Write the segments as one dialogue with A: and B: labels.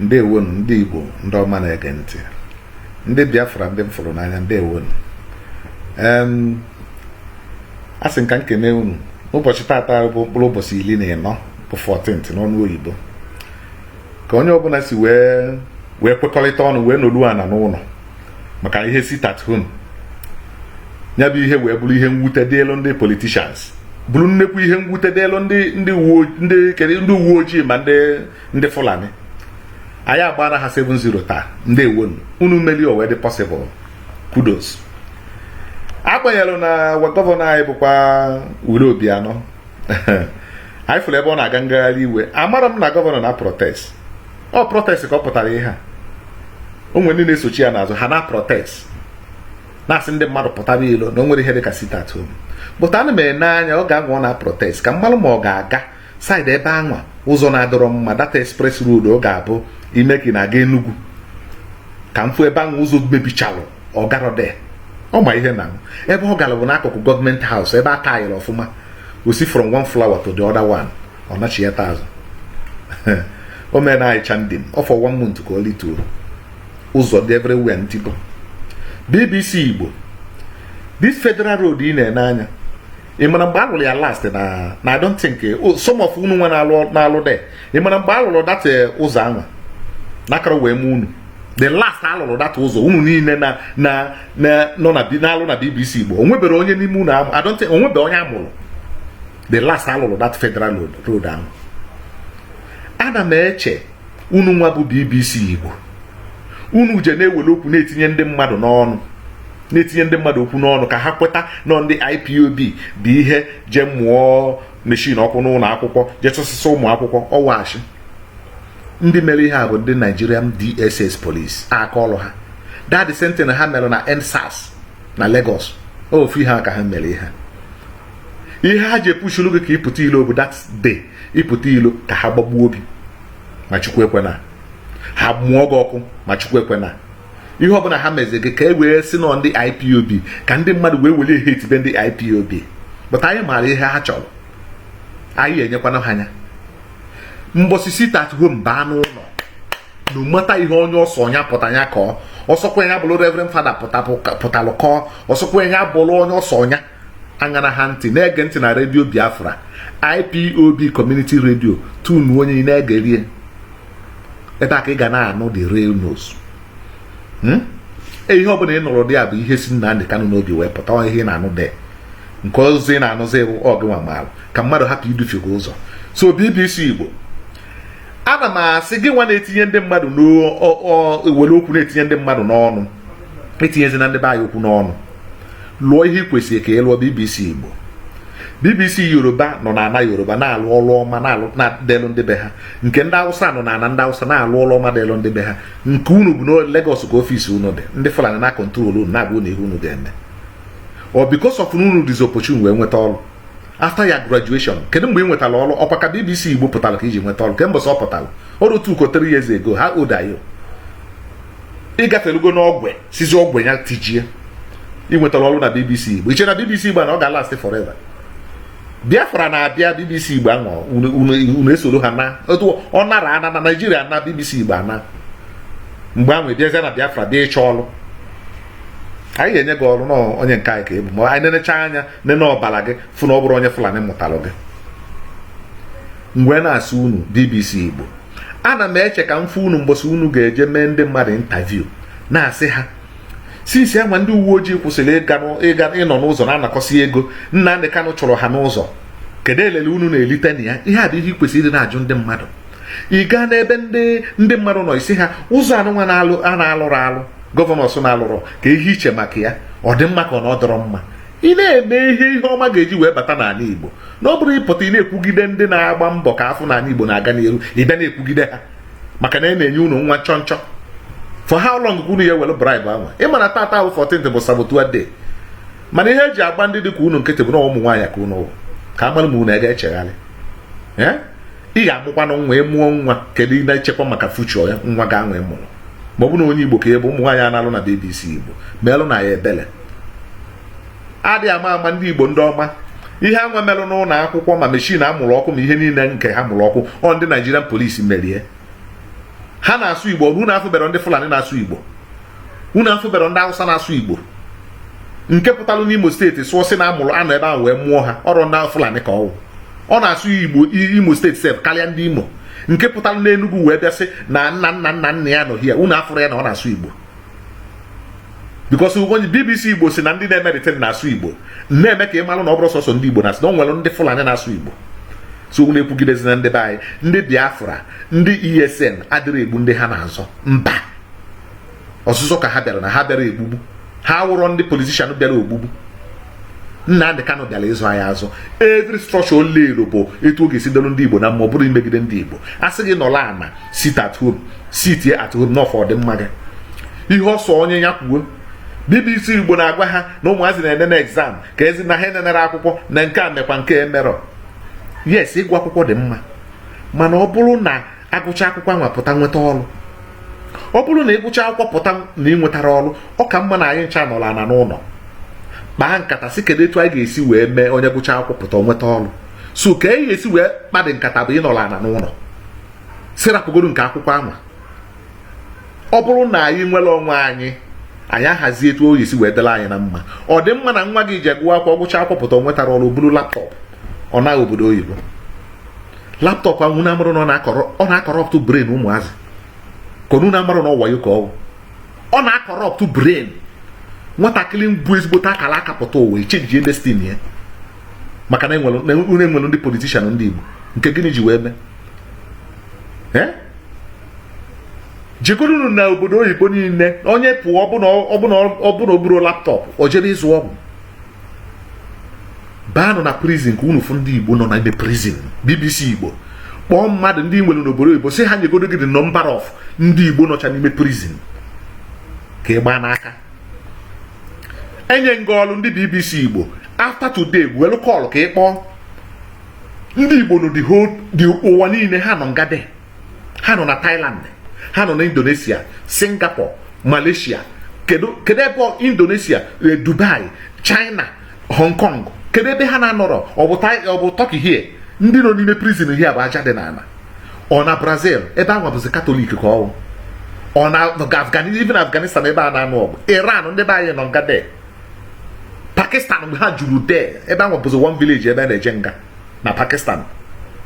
A: ndewonu ndị Igbo ndị ọma na-ege ntị ndị Biafra ndị m fụrụ n'anya ndewonu asị m ka m kene unu n'ụbọchị taata bụ mkpụrụ ụbọchị iri na ịnọ bụ 14th n'ọnụ oyibo ka onye ọbụla si wee wee kwekọrịta ọnụ wee nọlụ ana n'ụlọ maka ihe sit at home ya bụ ihe wee bụrụ ihe mwute dịelu ndị politicians bụrụ nnekwu ihe mwute dịelu ndị ndị uwe ojii ma ndị ndị Fulani anyị agbaala ha 7-0 taa ndewonu unu meli o wee dị possible kudos agbanyelụ na gọvanọ anyị bụkwa Willie Obiano anyị fụrụ ebe ọ na-aga ngagharị iwe amarọ m na gọvanọ na-aprotest ọ protest ka ọ pụtara ihe a o nwere ndị na-esochi ya n'azụ ha na-aprotest na-asị ndị mmadụ pụtara ilo na o nwerọ ihe dị ka sit at home but ana m ene anya oge anwa ọ na-aprotest ka m malụ ma ọ ga-aga side ebe anwa ụzọ na-adịrọ mma that express road ọ ga-abụ ị me ka ị na-aga Enugu ka m fụ ebe anwa ụzọ mebichalụ ọ garọ there ọ ma ihe na ebe ọ gara bụ n'akụkụ government house ebe a tayịrị ọfụma o si from one flyover to the other one ọ nachighata azụ o mere na anyị ndị m ọ fọ one month ka o lituo ụzọ dị everywhere ntibo BBC Igbo this federal road ị na-ene anya ị mara mgbe a lụrụ ya last na na I don't think oh, some of unu nwa na-alụ there ị mara mgbe a lụrụ dat eh, ụzọ anwa na akarọ wee mụ unu the last a lụrụ dat ụzọ unu niile na na na nọ na na-alụ na BBC Igbo o nweberọ onye n'ime unu I don't think o nweberọ onye a mụrụ the last a lụrụ dat federal road anwa ana m eche unu nwa bụ BBC Igbo unu je na-ewere okwu na-etinye ndị mmadụ n'ọnụ na-etinye ndị mmadụ okwu n'ọnụ ka ha kweta na ọ ndị IPOB bụ ihe je mụọ machine ọkụ n'ụlọ akwụkwọ je chụsịsị ụmụ akwụkwọ ọ wụ asị ndị mere ihe a bụ ndị Nigerian DSS police aka ọrụ ha that same thing ha mere na EndSARS na Lagos ofu ihe a ka ha mere ihe ihe ha ji apushulu gị ka ị pụta ilo ọ bụ that day ị pụta ilo ka ha gbagbuo gị ma chukwu ekwena ha mụọ gị ọkụ ma chukwu ekwena ihe ọbụla ha mezi gị ka e wee sị na ọ ndị IPOB ka ndị mmadụ wee were hatebe ndị IPOB but anyị maara ihe ha chọrọ anyị enyekwana ha anya mbọsị sit at home baa n'ụlọ no matter ihe onye ọsọ onye pụta anya kọọ ọ sọkwa ya bụrụ reverend father pụtalụ kọọ ọ sọkwa ya bụrụ onye ọsọ ọnya aṅara ha ntị na-ege ntị na redio biafra ipob community radio tunu onye na-egerie ebe a ka ị ga na-anụ the real news hmm? e, ihe ọbụla ị nụrụ there bụ ihe si Nnamdi Kanu n'obi wee pụta ihe ị na-anụ dị nke ọzọ ị na-anụzi bụ ọgịnwa maara ka mmadụ hapụ idufe gị ụzọ so BBC Igbo ana m asị gịnwa na-etinye ndị mmadụ na-ewere okwu na-etinye ndị mmadụ n'ọnụ etinyezina ndị be anyị okwu n'ọnụ lụọ ihe i kwesịrị ka ị lụọ bbc igbo bbc yoruba nọ na ana yoruba na-alụ ọrụ ọma dịịlụ ndị be ha nke ndị awụsa nọ na ana ndị awụsa na-alụ ọrụ ọma dịịlụ ndị be ha nke unu bụ na Lagos ka ọfisi unu dị ndị fulani na-control unu na-agwa unu ihe unu ga-eme ọ because of na unu dịzi opportune wee nweta ọrụ after your graduation kedu mgbe ị nwetara ọrụ ọkwa ka BBC Igbo pụtara ka i ji nweta ọrụ kemgbe ọ pụtara ọrụ two or three years ago how old are you ị gafelugo n'ọgwe sizi ọgwe ya tijie ị nwetara ọrụ na BBC Igbo i che na BBC Igbo na ọ ga-last forever biafra na-abịa bbc igbo anaa unu esoro ha naa otu ọ nara ana na naijiria na bbc igbo anaa mgbe ahụ ị bịazie na biafra bịa ịchọ ọrụ anyị ga-enye gị ọrụ na onye nke anyị ka ị bụ ma anyị nenecha anya nene ọbara gị fụ na ọ bụrụ onye fulani mụtalụ gị m wee na-asị unu bbc igbo ana m eche ka m fụ unu mbọsị unu ga-eje mee ndị mmadụ interview na-asị ha since anwa ndị uwe ojii kwụsịrị ịnọ n'ụzọ na-anakọsị ego Nnamdi Kanu chụrụ ha n'ụzọ kedu elele unu na-elite na ya ihe a bụ ihe ị kwesịrị ịdị na-ajụ ndị mmadụ ị gaa n'ebe ndị ndị mmadụ nọ ị sị ha ụzọ anụnwa na-alụrụ alụ governors na-alụrụ kee ihe i che maka ya ọ dị mma ka ọ na ọ dọrọ mma ị na-eme ihe ihe ọma ga-eji wee bata n'ala Igbo na ọ bụrụ ị pụta ị na-ekwugide ndị na-agba mbọ ka a fụ na ala Igbo na-aga n'iru ị bịa na-ekwugide ha maka na e na-enye unu nwa nchọnchọ for how long ka unu ya-ewere bribe anwa ị ma na tata wụ 14th bụ saboteur day mana ihe e ji agba ndị dị ka unu nkịtị bụ na ụmụ nwaanyị ka unu wụ ka a malụ ma unu ga-echegharị ị ga-amụkwanụ nwa ị mụọ nwa kedu ị na-echekwa maka future nwa gị anwa ị mụrụ ma ọ bụ na onye igbo ka ị bụ ụmụ nwaanyị a na-alụ na bbc igbo meelụ na ya ebele adị ama ama ndị igbo ndị ọma ihe anwa merụ n'ụlọ akwụkwọ ma machine a mụrụ ọkụ ma ihe niile nke ha mụrụ ọkụ ọ ndị Nigerian police mere ya ha na-asụ igbo unu afụbere ndị fulani na-asụ igbo unu afụbere ndị awụsa na-asụ igbo nke pụtalụ n'imo steeti sụọ sị na a mụrụ a nọ ebe ahụ wee mụọ ha ọrụ ndị fulani ka ọ wụ ọ na-asụ igbo imo steeti sef karịa ndị imo nke pụtalụ n'enugwu wee bịa sị na nna nna nna nna ya nọ here unu afụrụ ya na ọ na-asụ igbo because onye bbc igbo sị na ndị na-emerịta na-asụ igbo na-eme ka ị malụ na ọ bụrụ sọsọ ndị igbo na-asụ na o nwere ndị fulani na-asụ igbo so unu ekwugidezina ndị be anyị ndị biafra ndị esn adịrị egbu ndị ha na-azọ mba ọzụzọ ka ha bịara na ha bịara egbugbu ha wụrọ ndị politician bịara ogbugbu Nnamdị Kanu bịara ịzọ anyị azọ every structure ole ero bụ etu ọ ga-esi dịlụ ndị Igbo na mma ọ bụrọ imegide ndị Igbo a sị gị nọla ana sit at home sit at home na ọ for ọdịmma gị ihe ọ sọ onye ya kwuo BBC Igbo na-agwa ha na ụmụazị na-ene na exam ka ezi na ha enenere akwụkwọ na nke a mekwa nke emerọ yes ịgụ akwụkwọ dị mma mana ọ bụrụ na agụcha akwụkwọ anwa pụta nweta ọrụ ọ bụrụ na ị gụcha akwụkwọ pụta na ị nwetarọ ọrụ ọ ka mma na anyị ncha nọrọ ana n'ụlọ kpaa nkata sị kedu etu anyị ga-esi wee mee onye gụcha akwụkwọ pụta nweta ọrụ so ka e ga-esi wee kpadị nkata bụ ịnọrọ ana n'ụlọ sị rapụgodu nke akwụkwọ anwa ọ bụrụ na anyị nwere onwe anyị anyị ahazi etu ọ ga-esi wee dịla anyị na mma ọ dị mma na nwa gị ji agụwa akwụkwọ gụcha akwụkwọ pụta ọ nwetarọ ọrụ buru laptop ọ naa obodo oyibo laptop ahụ unu amarọ na ọ na-akọrọ ọ na-akọrọptụ brain ụmụazị ka unu amarọ na ọ wayo ka ọ wụ ọ na-akọrọptụ brain nwatakịrị bu ezigbote akara aka pụta ụwa echenjie destiny ya maka na enwere enwere ndị politician ndị Igbo nke gịnị ji wee mee eh? jegodunu na obodo oyibo niile onye pụọ ọbụna ọbụna ọbụna o buru laptop o jebe ịzụ ọgwụ baanụ na prison ka unu fụ ndị igbo nọ na ime prison bbc igbo kpọọ mmadụ ndị i nwere n'obodo oyibo sị ha nyegodo gị the number of ndị igbo nọcha n'ime prison ka ị gbaa n'aka enye m gị ọrụ ndị bbc igbo after today welu call ka ị kpọọ ndị igbo nọ the whole ụwa niile ha nọ nga de ha nọ na Thailand ha nọ na Indonesia Singapore Malaysia kedu kedu ebe Indonesia eh, Dubai China Hong Kong kedu ebe ha na-anọrọ ọ bụ Turkey here ndị nọ n'ime prison here bụ aja dị n'ala ọ na Brazil ebe ahụ bụzi katọlik ka ọ wụ ọ na even Afghanistan ebe a na-anụ ọgụ Iran ndị be anyị nọ nga de Pakistan ebe ha juru de ebe ahụ bụzi one village ebe a na-eje nga na pakistan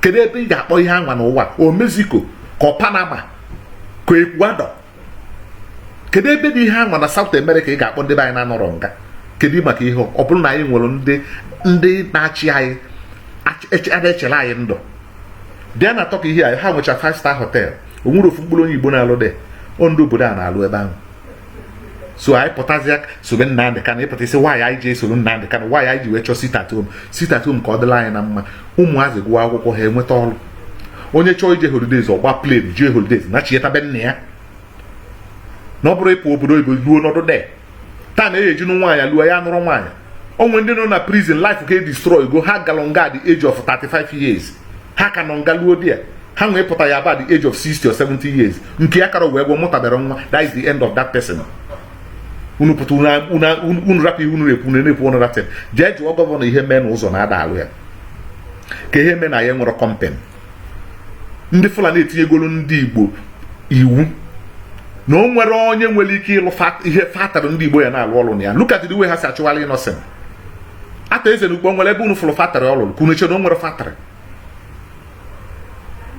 A: kedu ebe ị ga-akpọ ihe anwa n'ụwa ọ mexico ka ọ panama ka ecuador kedu ebe dị ihe anwa na south america ị ga-akpọ ndị be anyị na-anọrọ nga kedu maka ihe ọ bụrụ na anyị nwere ndị ndị na-achị anyị na-echere anyị ndụ bịa na turkey here ha nwecha five star hotel o nwere ofu mkpụrụ onye igbo na-alụ de ọ ndị obodo a na-alụ ebe ahụ so anyị pụtazịa sobe Nnamdị Kanụ ị fụta isi ihe anwa anyị ji esoro Nnamdị Kanụ ihe anwa anyị ji wee chọọ sit at home sit at home ka ọ dịla anyị na mma ụmụazị gụọ akwụkwọ ha enweta ọrụ onye chọọ ije holidays ọ baa plane jee holidays nachieta be nna ya na ọ bụrọ ịpụ obodo oyibo ruo nọdụ de taa na age e ji anụ nwaanyị luo ya nụrọ nwaanyị o nwe ndị nọ na prison life ka e destroy go ha galụ nga at the age of 35 years ha ka nọ nga luo there ha wepụta ya about the age of 60 or 70 years nke ya kara wee gwọ mụtabara nwa that is the end of that person unu pụta unu rapụ ihe unu na-ekwu unu na-ekwu ọnụ ratin jee jụọ gọvanọ ihe mee na ụzọ na-ada alụ ya ka ihe mee na ya nwere company ndị fulani etinyegoro ndị igbo iwu na o nwere onye nwere ike ịlụ ihe factory ndị igbo ya na-alụ ọrụ na ya look at the way ha si achụgharị Innoson Arthur Eze na Ukpo nwere ebe unu fụrụ factory ọ lụrụ ka unu chere o nwere factory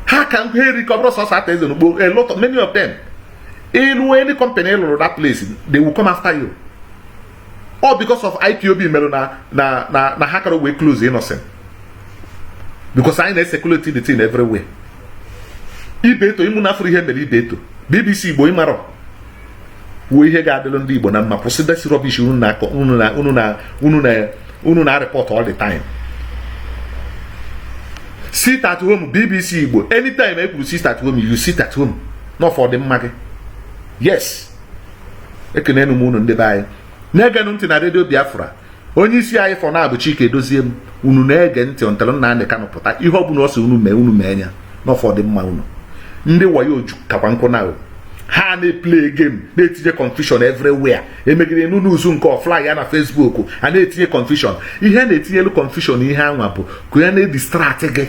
A: ha ka ha eri ka ọ bụrụ sọsọ Arthur Eze na Ukpo a lot of many of them ị lụ any company ị lụrụ that place they will come after you all because of ipob merụ na na na na ha karọ wee close Innoson because anyị na-esekuleti the thing everywhere Ibeto unu afụrụ ihe mere Ibeto bbc igbo ị marọ kwuo ihe ga-adịrị ndị Igbo na mma kwụsị this rubbish unu na-areport all the time sit at home BBC Igbo anytime e kwuru sit at home you sit at home n'ọ for ọdịmma gị yes ekenenu m unu ndị be anyị na-egenụ ntị na redio biafra onye isi anyị for now bụ Chika Edoziem unu na-ege ntị until Nnamdi Kanu pụta ihe ọ bụla ọ sị unu mee unu mee ya n'ọ for ọdịmma unu ndị wayo jukakwa nkụ na ha na-eplay game na-etinye confusion everywhere emegide news nke ọ fly ya na Facebook a na-etinye confusion ihe a na-etinyelu confusion ihe anwa bụ ka ya na-edistract gị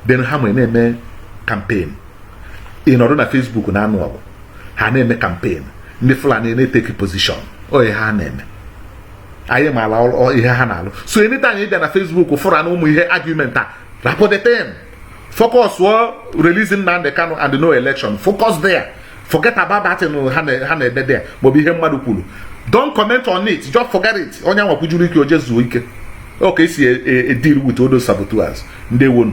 A: then ha wee na-eme campaign ị nọrọ na Facebook na-anụ ọgụ ha na-eme campaign ndị Fulani na-eteki position ọ ihe ha na-eme anyị maala ihe ha na-alụ so anytime ị bịa na Facebook fụra na ụmụ ihe argument a rapụ the thing focus on release Nnamdi Kanu and no election focus there forget about that ha na-ede there maọbụ ihe mmadụ kwuru don't comment on it just forget it onye anwa kwujuru ike o jee zuo ike ọ ka e si deal with all those saboteurs ndeewonu